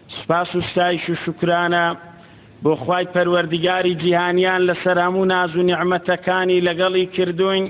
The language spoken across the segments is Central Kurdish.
سپاس و ستایش و شکرانە بۆ خوای پەروەردگاری جیهانیان لەسەر هەموو ناز و نیعمەتەکانی لەگەڵی کردوین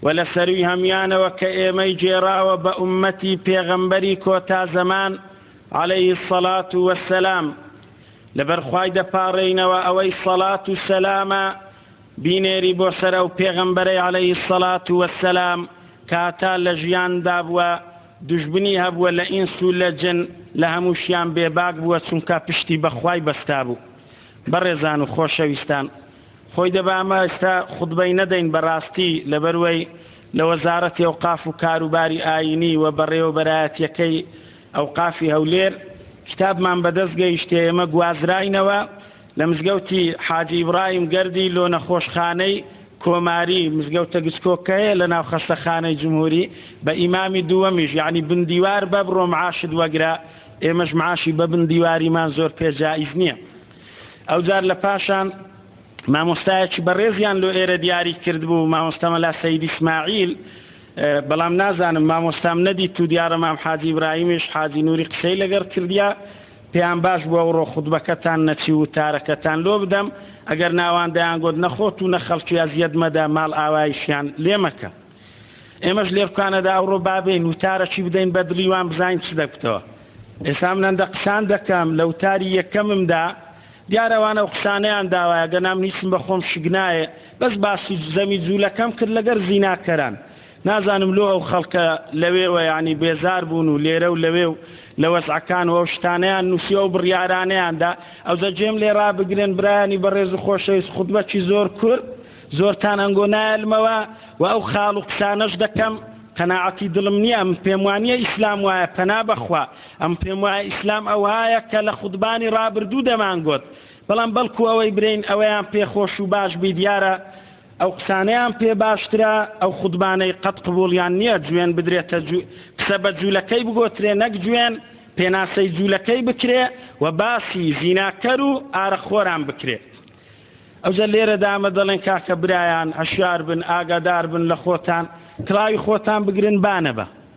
و لە سەروی هەمیانەوە کە ئێمەی جێراوە بە ئومەتی پێغەمبەری کۆتا زەمان عليه الصلاة والسلام لەبەرخوای دەپاڕێینەوە ئەوەی سەڵات و سەلامە بینێری بۆ سەر ئەو پێغەمبەرەی عليه الصلاة والسلام کاتا لە ژیان دابووە دوژمنی هەبووە لە ئینس و لە جن لە هەمووشیان بێباک بووە چونکا پشتی بە خوای بەستابوو بەڕێزان و خۆشەویستان خۆی دەبا ئەمە ئێستا خوتبەی نەدەین بەڕاستی لەبەروەی لە وەزارەتی ئەوقاف و کاروباری ئاینی و بەڕێوەبەرایەتیەکەی ئەوقافی هەولێر کتابمان بەدەست گەیشتێ ئێمە گوازراینەوە لە مزگەوتی حاجی ئیبراهیم گەردی لۆ نەخۆشخانەی کۆماری مزگەوتە گچکۆک کە هەیە لە ناو خەستەخانەی جمهوری بە ئیمامی دووەمیش یەعنی بن دیوار بە بڕۆ معاشت وەگرە ئێمەش معاشی بە بن دیواریمان زۆر پێ جائیز نییە ئەوجار لە پاشان مامۆستایەکی بەڕێزیان لۆ ئێرە دیاری کردبوو مامۆستامە لا سەید ئیسماعیل بەڵام نازانم مامۆستام نەدیت و دیارە مام حاجی ئیبراهیمیش حاجی نوری قسەی لەگەڕ کردیا پێیان باش بوو ئەوڕۆ خوتبەکەتان نەچی وتارەکەتان لۆ بدەم، ئەگەر نا ئەوان دەیانگۆت نە خۆت و نە خەڵکی ئەزیەت مەدە، ماڵئاواییشیان لێ مەکە. ئێمەش لێرکانەدا ئەوڕۆ با بێین وتارەکی بدەین بە دڵی وان بزانین چ دەگوتەوە. ئێستا من هەندە قسان دەکەم، لە وتاری یەکەممدا دیارە ئەوان ئەو قسانەیان داوایە، گەنا من هیچم بە خۆم شک نایێ، بەس باسی زەمی جوولەکەم کرد لەگەر زیناکەران. نازانم لۆ ئەو خەڵکە لەوێوە یانی بێزار بوون و لێرە و لەوێ و لە وەزعەکان و ئەو شتانەیان نووسی ئەو بڕیارانەیاندا ئەوجە جێم لێ ڕابگرن برایانی بەڕێز و خۆشەویست خودبەکی زۆر کورد زۆرتان ئەنگۆ نایلمەوە و ئەو خاڵ و قسانەش دەکەم قەناعەتی دڵم نییە ئەم پێم وانە ئیسلام وایە پەنا بەخوا ئەم پێم وایە ئیسلام ئەوهایە کە لە خودبانی ڕابردوو دەمانگوت بەڵام بەڵکو ئەوەی برین ئەوەیان پێخۆش و باش بی دیارە ئەو قسانەیان پێ باشترە ئەو خودمانەی قەت قبوڵیان نییە جوێن بدرێتە جو قسە بە جوولەکەی بگۆترێ نەک جوێن پێناسەی جوولەکەی بکرێ و باسی زیناکەر و ئارەخۆران بکرێ ئەوجە لێرە دامە دەڵێن کاکە برایان هەشیار بن ئاگادار بن لە خۆتان کڵاوی خۆتان بگرن بانەبە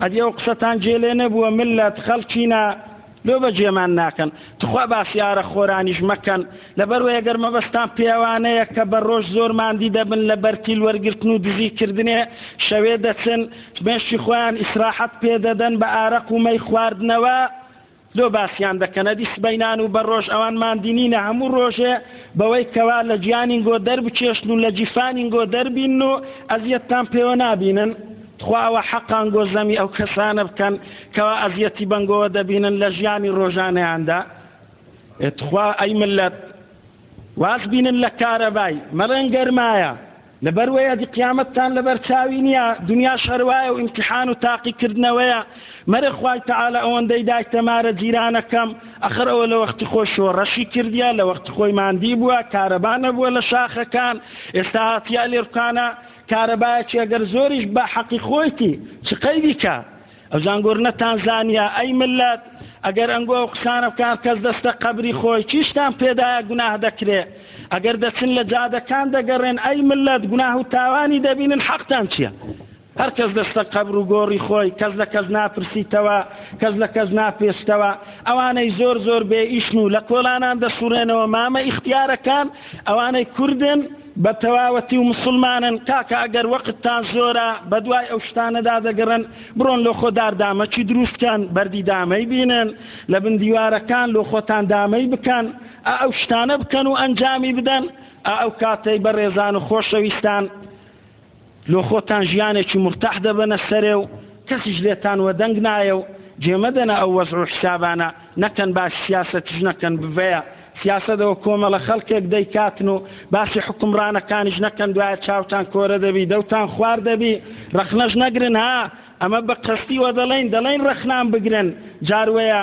ئەدی ئەو قسەتان جێ لێ نەبووە ملت خەڵکینە لۆ بە جێمان ناکەن تخوا باسی ئارەق خۆرانیش مەکەن لەبەر وەیە گەر مەبەستان پێوانەیە کە بە ڕۆژ زۆر ماندی دەبن لە بەرتیل وەرگرتن و دزی کردنێ شەوێ دەچن مێشی خۆیان ئیسراحەت پێ دەدەن بە ئارەق و مەی خواردنەوە لۆ باسیان دەکەنە دی سبەینان و بە ڕۆژ ئەوان ماندینینە هەموو ڕۆژێ بەوەی کەوا لە گیانین گۆ دەربچێشن و لە جیفانین گۆ دەربین و ئەزیەتتان پێوە نابینن تخوا ئەوە حەقان گۆ زەمی ئەو کەسانە بکەن کەوا ئەزیەتی بەنگۆوە دەبینن لە ژیانی ڕۆژانەیاندا تخوا ئەی ملت واز بینن لە کارەبای مەڵێن گەرمایە لەبەر وەیە دی قیامەتتان لەبەر چاوی نیە دنیاش هەروایە و ئیمتیحان و تاقی کردنەوەیە مەرە خوای تەعالا ئەوەندەی دایتە مارە جیرانەکەم ئەخر ئەوە لە وەختی خۆی شۆڕەشی کردیە لە وەختی خۆی ماندی بووە کارەبا نەبووە لە شاخەکان ئێستا هاتیە لێرکانە کارەبایەکی ئەگەر زۆریش بە حەقی خۆیتی چ قەیدیکە ئەو زانگۆر نەتان زانیا ئەی ملت ئەگەر ئەنگۆ ئەو قسانە بکان کەس دەستە قەبری خۆی چیشتان پێدایە گوناه دەکرێ ئەگەر دەچن لە جادەکان دەگەڕێن ئەی ملت گوناه و تاوانی دەبینن حەقتان چییە هەر کەس دەستە قەبر و گۆڕی خۆی کەس لە کەس ناپرسیتەوە کەس لە کەس ناپێستەوە ئەوانەی زۆر زۆر بێ ئیشن و لە کۆلانان دەسوڕێنەوە مامە ئیختیارەکان ئەوانەی کوردن بە تەواوەتی و مسلمانن کاکە ئەگەر وەقتتان زۆرە بە دوای ئەو شتانەدا دەگەڕن بڕۆن لۆ خۆ داردامەکی دروستکەن بەردی دامەی بینن لە بن دیوارەکان لۆ خۆتان دامەی بکەن ئەو شتانە بکەن و ئەنجامی بدەن ئەو کاتەی بە ڕێزان و خۆشەویستان لۆ خۆتان ژیانێکی مورتاح دەبەنە سەرێ و کەسیش لێتان وەدەنگ نایە و جێمەدەنە ئەو وەزع و حسابانە، نەکەن باسی سیاسەتیش نەکەن بڤەیە سیاسەتەوە کۆمەڵە خەڵکێک دەیکاتن و باسی حوکمڕانەکانیش نەکەن دوایە چاوتان کۆرە دەبی دەوتان خوار دەبی ڕەخنەش نەگرن ها ئەمە بەقەستی وەدەڵێین دەڵێین ڕەخنان بگرن جاروەیە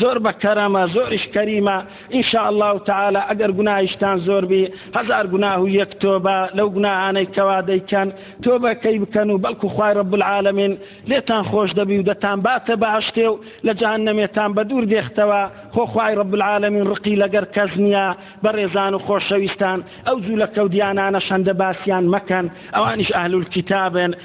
زۆر بە کەرەمە زۆریش کەریمە ان شاء اللە تعالی ئەگەر گوناهیشتان زۆر بی هەزار گوناه و یەک تۆبە لەو گوناهانەی کەوا دەیکەن تۆبەکەی بکەن و بەڵکو خوای رب العالمین لێتان خۆش دەبی و دەتان باتە بەهشتێ و لە جەهەنەمێتان بە دوور دێختەوە خۆ خوای رب العالمین ڕقی لەگەر کەس نییە بەڕێزان و خۆشەویستان ئەو جوولەکە و دیانانە شەندە باسیان مەکەن ئەوانیش ئەهل الکتابن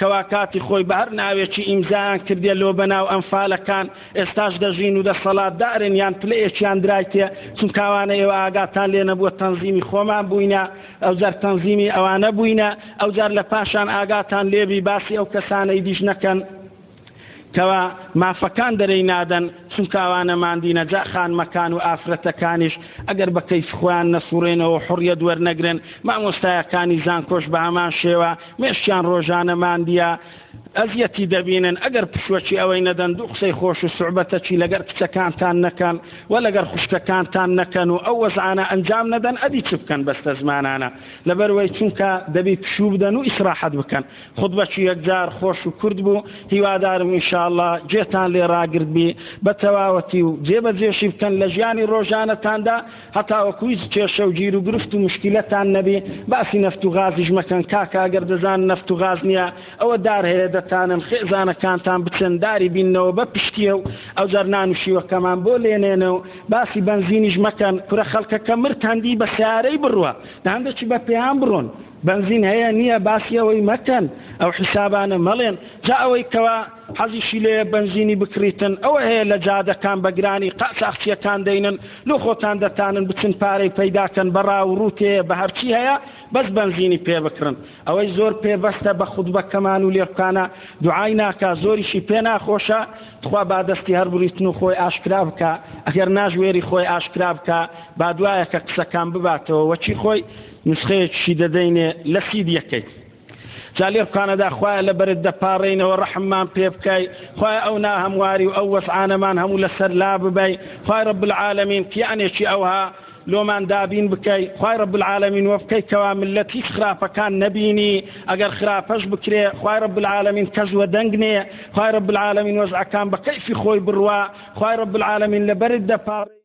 کەوا کاتی خۆی بە هەر ناوێکی ئیمزایان کردێ لۆ بەناو ئەنفالەکان ئێستاش دەژین و دەسەڵات دارن یان پلەیەکیان درایتێ چونکاوانە ئێوە ئاگاتان لێ نەبووە تەنزیمی خۆمان بووینە ئەو جار تەنزیمی ئەوانە بووینە ئەو جار لە پاشان ئاگاتان لێبی باسی ئەو کەسانەی دیش نەکەن کوا مافەکان دەرێی نادەن چونکە ئەوانە ماندینە جا خانمەکان و ئافرەتەکانیش ئەگەر بە کەیف خۆیان نەسوڕێنەوەو حوڕیەت وەرنەگرن مامۆستایەکانی زانکۆش بە هەمان شێوە مێشکیان ڕۆژانە ماندیە ئەزیەتی دەبینن ئەگەر پشوەکی ئەوەی نەدەن دوو قسەی خۆش و سوعبەتەکی لەگەر کچەکانتان نەکەن و لەگەر خوشکەکانتان نەکەن و ئەو وەزعانە ئەنجام نەدەن ئەدی چ بکەن بەستە زمانانە لەبەروەی چونکە دەبی پشوو بدەن و ئیسراحەت بکەن خوتبەکی یەکجار خۆش و کورت بوو، هیوادارم ان شاء اللە گوێتان لێ ڕاگرتبی بە تەواوەتی و جێ بە جێشی بکەن لە ژیانی ڕۆژانەتاندا هەتاوەکو هیچ کێشە و گیر و گرفت و مشکیلەتان نەبی، باسی نەفت و غازیش مەکەن کاکە ئەگەر دەزانن نەفت و غاز نییە ئەوە دار هەیە دەتانن خێزانەکانتان بچن داری بیننەوە بە پشتیە و ئەوجار نان و شیوەکەمان بۆ لێنێنە و باسی بەنزینیش مەکەن کورە خەڵکەکە مرد هەندی بە سەیارەی بڕوا هەندەکی بە پێیان بڕۆن بەنزین هەیە نیە باسی ئەوەی مەکەن ئەو حیسابانە مەڵێن جا ئەوەی کەوا حەزیشی لێ بەنزینی بکڕیتن ئەوە هەیە لە جادەکان بەگرانی قاچاخچیەکان دەینن لۆ خۆتان دەتانن بچن پارەی پەیداکەن بەڕا و ڕوتێ بە هەرچی هەیە بەس بەنزینی پێ بکڕن ئەوەی زۆر پێبەستە بە خودبەکەمان و لێبکانە دوعای ناکە زۆریشی پێ ناخۆشە تخوا با دەستی هەر بریتن و خۆی ئاشکرا بکە ئەگەر ناژوێری خۆی ئاشکرا بکە با دوایەکە قسەکان بباتەوە وەچی خۆی نسخەیەکیشی دەدەینێ لە سیدیەکەی جا لێ بقانەدا خوایە لە بەرت دەپاڕێینەوە ڕەحممان پێ بکای خوای ئەو ناهەمواری و ئەو وەسعانەمان هەموو لەسەر لا ببای خوای ڕب العالمین قیانێکی ئەوها لۆمان دابین بکەی خوای ڕب العالمین وە بکەی کەوا ملەت هیچ خراپەکان نەبینی ئەگەر خراپەش بکرێ خوای ڕب العالمین کەس وە دەنگنێ خوای ڕب العالمین وەزعەکان بە کەیفی خۆی بڕوا خوای ڕب العالمین لە بەرت دەپاڕێ